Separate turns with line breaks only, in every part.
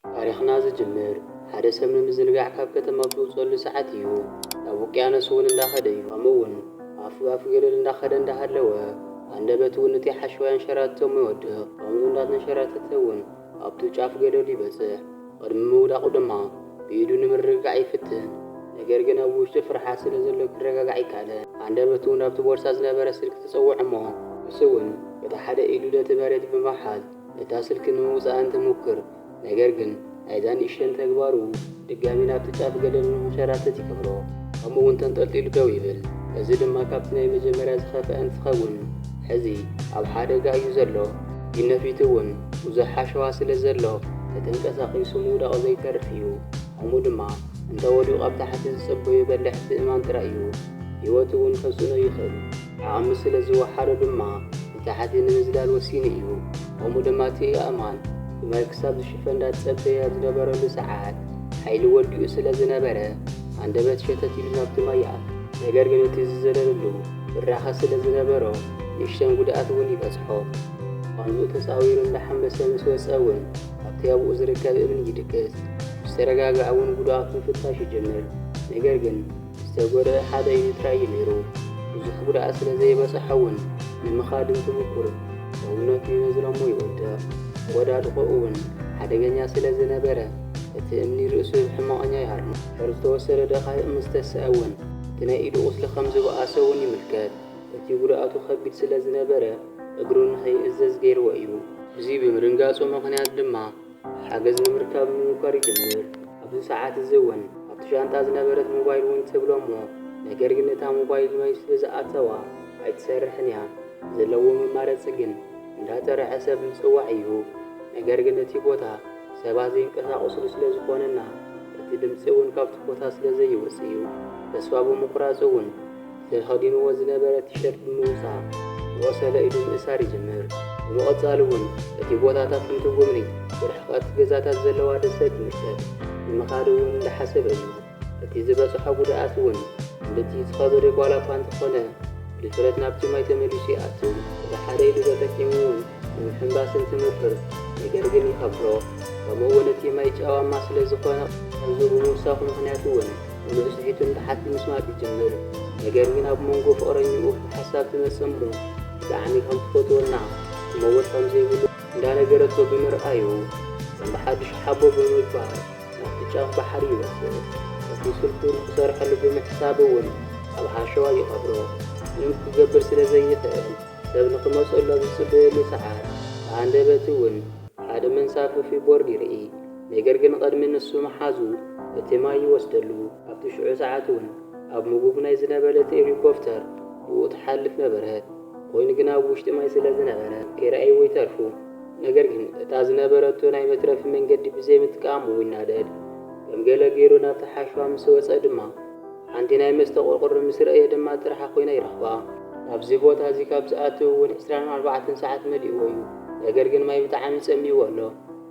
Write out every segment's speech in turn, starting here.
ታሪኽና ዝጅምር ሓደ ሰብ ንምዝንጋዕ ካብ ከተማ ብዝውጸሉ ሰዓት እዩ። ናብ ውቅያኖስ እውን እንዳኸደ እዩ። ከምኡ እውን ኣፍ ብኣፍ ገደል እንዳኸደ እንዳሃለወ ሃንደበቱ እውን እቲ ሓሸዋ የንሸራትቶም ይወድቕ። ከምኡ እንዳተንሸራተተ እውን ኣብቱ ጫፍ ገደሉ ይበጽሕ። ቕድሚ ምውዳቑ ድማ ብኢዱ ንምርግጋዕ ይፍትን። ነገር ግን ኣብ ውሽጡ ፍርሓት ስለ ዘሎ ክረጋጋዕ ኣይካለን። ሃንደበቱ እውን ኣብቲ ቦርሳ ዝነበረ ስልኪ ተጸውዖ እሞ ንሱ እውን በታ ሓደ ኢዱ ነቲ መሬት ብምሓዝ እታ ስልኪ ንምውጻእ እንትሙክር ነገር ግን ናይዛ ንእሽተን ተግባሩ ድጋሚ ናብቲ ጫፍ ገደል ንክንሸራተት ይገብሮ ከምኡ ውን ተንጠልጢሉ ደው ይብል እዚ ድማ ካብቲ ናይ መጀመርያ ዝኸፍኣ እንትኸውን ሕዚ ኣብ ሓደጋ እዩ ዘሎ ፊትነፊቱ ውን ብዙሕ ሓሸዋ ስለ ዘሎ ተተንቀሳቂሱ ምውዳቁ ዘይተርፍ እዩ ከምኡ ድማ እንተወዲቁ ኣብ ታሕቲ ዝጽበዩ በላሕቲ እማን ጥራይ እዩ ሂወቱ ውን ከስእኖ ይኽእል ዓቅሚ ስለ ዝወሓዶ ድማ ንሓንቲ ንምዝላል ወሲኑ እዩ። ከምኡ ድማ እቲ ኣእማን ብማይ ክሳብ ዝሽፈን እንዳተጸበየ ኣብ ዝነበረሉ ሰዓት፣ ሓይሊ ወዲኡ ስለ ዝነበረ፣ ሃንደበት ሸተት ኢሉ ናብቲ ማይ ይኣቱ። ነገር ግን እቲ ዝዘለለሉ ብራኸ ስለ ዝነበሮ፣ ንእሽተን ጉድኣት እውን ይበጽሖ። ቋንዝኡ ተጻዊሩ እንዳሓመሰ ምስ ወጸ እውን፣ ኣብቲ ኣብኡ ዝርከብ እምኒ ይድቅስ። ምስ ተረጋግኣ እውን ጉድኣቱ ምፍታሽ ይጅምር። ነገር ግን ዝተጎድኣ ሓደ እዩ ጥራይ እዩ ነይሩ። ብዙሕ ጉድኣት ስለ ዘይበጸሖ'ውን ንምኻድ እንትሙኩር ሰውነቱ ይነዝረ'ሞ ይወድቕ። ኣወዳድቆኡ'ውን ሓደገኛ ስለ ዝነበረ እቲ እምኒ ርእሱ ብሕመቐኛ ይሃርሞ። ድሕሪ ዝተወሰደ ደቓይቕ ምስ ተሰኣ'ውን እቲ ናይ ኢዱ ቁስሊ ከም ዝበኣሰ'ውን ይምልከት። እቲ ጉድኣቱ ከቢድ ስለ ዝነበረ እግሩ ንኸይእዘዝ ገይርዎ እዩ። እዚ ብምድንጋጹ ምኽንያት ድማ ሓገዝ ንምርካብ ምሙኳር ይጅምር። ኣብዚ ሰዓት እዚ እውን ኣብቲ ሻንጣ ዝነበረት ሞባይል እውን ትብሎ እሞ ነገር ግን እታ ሞባይል ማይ ስለ ዝኣተዋ ኣይትሰርሕን እያ። ዘለዎ መማረፂ ግን እንዳጠረዐ ሰብ ምፅዋዕ እዩ። ነገር ግን እቲ ቦታ ሰባት ዘይንቀሳቀስሉ ስለ ዝኾነ እና እቲ ድምፂ እውን ካብቲ ቦታ ስለ ዘይወፅእ እዩ። ተስፋ ብምቁራፅ እውን። ተኸዲንዎ ዝነበረ ቲሸርት ብምውጻእ ብቆሰለ ኢዱ ምእሳር ይጅምር። ብምቕጻል እውን እቲ ቦታታት እንትጉብኒ ብርሕቐት ገዛታት ዘለዋ ደሴት ትምልከት። ንምኻድ እውን እንዳሓሰበ እዩ። እቲ ዝበጽሖ ጉድኣት እውን ክንድቲ ዝኸበደ ዋላ እኳ እንተኾነ ብድፍረት ናብቲ ማይ ተመሊሱ ይኣቱ። እቲ ሓደ ኢዱ ተጠቂሙ እውን ንምሕንባስ እንትምክር ነገር ግን ይኸብዶ። ከምኡ እውን እቲ ማይ ጨዋማ ስለዝኾነ ቅርጹ ብምውሳኹ ምኽንያት እውን ብንእሽተይትን ብሓቲ ምስማዕ ይጅምር ነገር ግን ኣብ መንጎ ፍቅረኝኡ ሓሳብ ትመጽእ እሞ ብጣዕሚ ከም ትፈትዎና ክመውት ከም ዘይብሉ እንዳነገረቶ ብምርኣዩ ከም ብሓዱሽ ሓቦ ብምግባር ናብቲ ጫፍ ባሕሪ ይወስድ እቲ ስልኩ ንክሰርሐሉ ብምሕሳብ እውን ኣብ ሓሸዋ ይቀብሮ ምንም ክገብር ስለ ዘይክእል ሰብ ንክመጸሉ ኣብ ዝጽበየሉ ሰዓት ብሃንደበት እውን ሓደ መንሳፍፊ ቦርድ ይርኢ ነገር ግን ቐድሚ ንሱ ምሓዙ እቲ ማይ ይወስደሉ። ኣብቲ ሽዑ ሰዓት እውን ኣብ ምጉግ ናይ ዝነበለት ኤሊኮፍተር ብኡ ትሓልፍ ነበረት። ኮይኑ ግን ኣብ ውሽጢ ማይ ስለ ዝነበረ ከይረኣይዎ ይተርፉ። ነገር ግን እታ ዝነበረቶ ናይ መትረፊ መንገዲ ብዘይምጥቃሙ ይናደድ። ከም ገለ ገይሩ ናብቲ ሓሸዋ ምስ ወጸ ድማ ሓንቲ ናይ መስተ ቁርቁር ምስ ረእየ ድማ ጥርሓ ኮይና ይረኽባ። ናብዚ ቦታ እዚ ካብ ዝኣቱ እውን ዕስራን ኣርባዕተን ሰዓት መሊእዎ እዩ። ነገር ግን ማይ ብጣዕሚ ጸሚእዎ ኣሎ።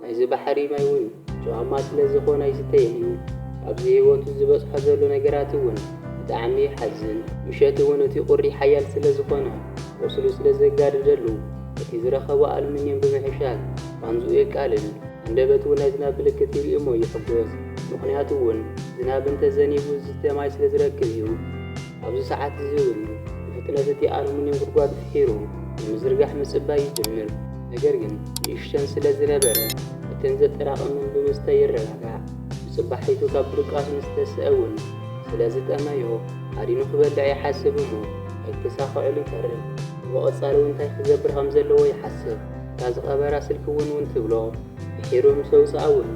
ናይዚ ባሕሪ ማይ ውን ጨዋማ ስለ ዝኮነ ኣይስተይን እዩ ኣብዚ ሂወቱ ዝበጽሖ ዘሎ ነገራት ውን ብጣዕሚ ይሓዝን ምሸት ውን እቲ ቁሪ ሓያል ስለ ዝኮነ ቆስሉ ስለ ዘጋድደሉ በቲ ዝረከቦ ኣሉምንየም ብምሕሻል ቃንዝኡ የቃልል ሃንደበት ውን ናይ ዝናብ ምልክት ይርኢ እሞ ይሕጎስ ምክንያቱ ውን ዝናብ እንተ ዘኒቡ ዝስተ ማይ ስለ ዝረክብ እዩ። ኣብዚ ሰዓት እዚ ውን ብፍጥነት እቲ ኣሉምንየም ጉድጓዱ ፍሒሩ ንምዝርጋሕ ምጽባይ ይጅምር። ነገር ግን ንእሽተን ስለ ዝነበረ፣ እተን ዘጠራቕመን ብምስተ ይረጋጋእ። ብጽባሒቱ ካብ ድቃሱ ምስ ተስኣ እውን ስለ ዝጠመዮ፣ ሃዲኑ ክበልዕ ይሓስብ እሞ ኣይተሳኸዐሉ ይተርፍ። ብቐጻሊ እውን እንታይ ክገብር ከም ዘለዎ ይሓስብ። እታ ዝቐበራ ስልኪ ውን ውን ትብሎ። ድሒሩ ምስ ኣውጽኣ እውን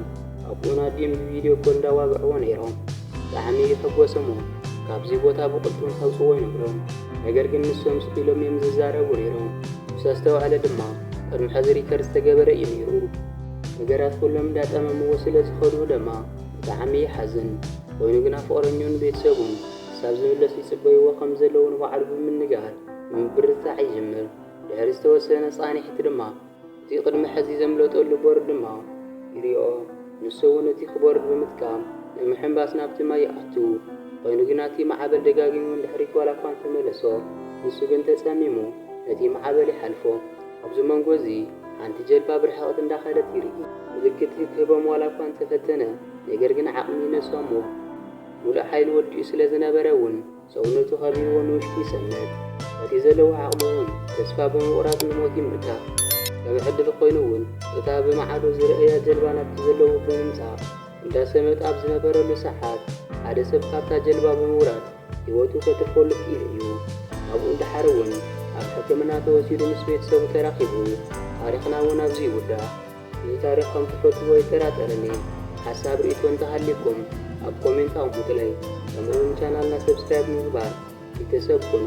ኣቡኡን ኣዲኡን ብቪድዮ ኮል እንዳዋግዕዎ ነይሮም። ብጣዕሚ ይሕጎስ እሞ ካብዙይ ቦታ ብቅልጡፍ ከውፅዎ ይነግሮም ነገር ግን ንሶም ስቅ ኢሎም እዮም ዝዛረቡ ነይሮም ምስ ኣስተውዓለ ድማ ቅድሚ ሐዚ ሪከርድ ዝተገበረ እዩ ነይሩ ነገራት ኩሎም እንዳጣመምዎ ስለ ዝከዱ ደማ ብጣዕሚ ይሓዝን ኮይኑ ግና ፍቅረኝኡን ቤተሰቡን ክሳብ ዝምለስ ይፅበይዎ ከም ዘለው ንባዕሉ ብምንጋር ንምብርትታዕ ይጅምር ድሕሪ ዝተወሰነ ፃኒሕት ድማ እቲ ቅድሚ ሕዚ ዘምለጠሉ ቦርድ ድማ ይሪኦ። ንሱ እውን እቲ ክቦርድ ብምጥቃም ብምሕንባስ ናብቲ ማይ ይኣቱ። ኾይኑ ግና እቲ ማዕበል ደጋጊሙ ንድሕሪት ዋላ እኳ እንተመለሶ ንሱ ግን ተፀሚሙ ነቲ ማዕበል ይሓልፎ። ኣብዚ መንጎ እዚ ሓንቲ ጀልባ ብርሕቐት እንዳኸደት ይርኢ። ምልክት ክህቦም ዋላ እኳ እንተፈተነ ነገር ግን ዓቕሚ ይነሶ እሞ ሙሉእ ሓይሉ ወዲኡ ስለዝነበረ እውን ሰውነቱ ከቢብዎ ንውሽጢ ይሰንድ። በቲ ዘለዎ ዓቕሚ እውን ተስፋ ብምቑራጽ ንሞት ይምርካ። ከም ዕድል ኮይኑ እውን እታ ብማዕዶ ዝረኣያ ጀልባ ናብቲ ዘለዎ ብምምጻእ እንዳሰመጠ ኣብ ዝነበረሉ ሰዓት ሓደ ሰብ ካብታ ጀልባ ብምውራድ ህይወቱ ከትርፈሉ ክኢሉ እዩ። ካብኡ ንደሓር እውን ኣብ ሕክምና ተወሲዱ ምስ ቤተሰቡ ተራኺቡ። ታሪኽና እውን ኣብዚ ይውዳእ። እዚ ታሪኽ ከም ትፈትዎ ኣይጠራጠርን እየ ሓሳብ ሪኢቶ እንተሃልይኩም ኣብ ኮሜንት ኣቅሙጥለይ ከምኡ ውን ቻናልና ሰብስክራይብ ብምግባር ቢተሰብ ኩኑ።